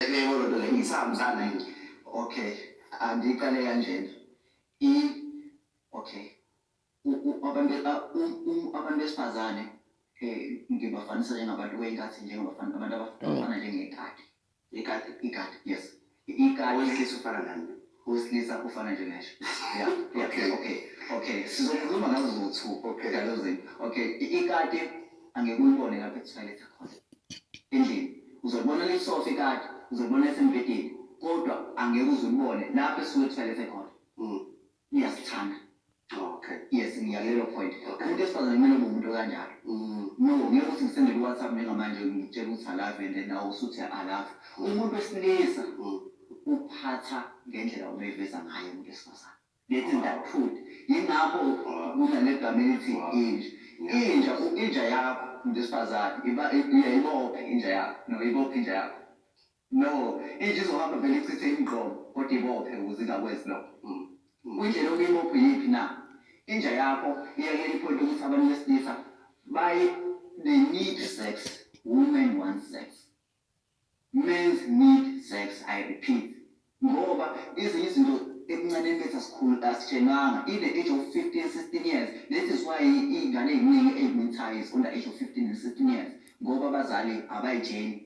Yebo lento le ngisahambisana yini? Okay. Andiqale kanjena. I okay. Abantu abantu besifazane eh ngibafanisa njengabantu weyinkathi njengabafana abantu abafana njengekati. Ikati ikati yes. Ikati wesilisa ufana nani? Wesilisa ufana nje nesho. Yeah, yeah, okay, okay. Okay, sizokhuluma ngazo zowu-two. Okay. Ngalezo zinto. Okay, i- ikati angeke ulibone lapho ethoyilethe khona. Endlini. Uzolibona lisofa ikati, uzolibona lisembhedeni. Kodwa angeke uze ulibone lapho esuke ethoyilethe khona. Mm. Iyasithanda. Okay. Yes, ngiyalelo point. Umuntu esifazane kumele ube umuntu kanjalo. Mm. No, ngeke ukuthi ngisende ku WhatsApp njengamanje ngitshela ukuthi alavi and then nawe usuthi alavi. Umuntu wesilisa mm. uphatha ngendlela umeveza ngayo umuntu esifazane. Let's in that food. Yingakho kunale gama elithi inja. Inja, inja yakho umuntu esifazane iba iyayibopha inja yakho. No, ibopha inja yakho. No, inja izohamba vele ichithe imgqomo kodwa ibophe ukuze ingakwenzi lokho. Kuyindlela okuyimuphi yiphi na? Inja yakho iya kuleli point lokuthi abantu besilisa bayi they need sex, women want sex. Men's need sex, I repeat. Ngoba ezinye izinto ebuncaneni bethu asikhulu asitshelwanga in the age of 15 16 years that is why iy'ngane ey'ningi ey'mithayo is on the age of 15 and 16 years ngoba abazali abayitsheli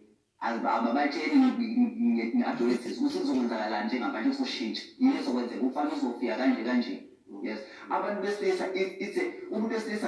ababatsheli nge-adolescence ukuthi kuzokwenzakalani njengamanje kusoshintsha yini ezokwenzeka umfana uzofika kanje kanje yes abantu besilisa ithe umuntu wesilisa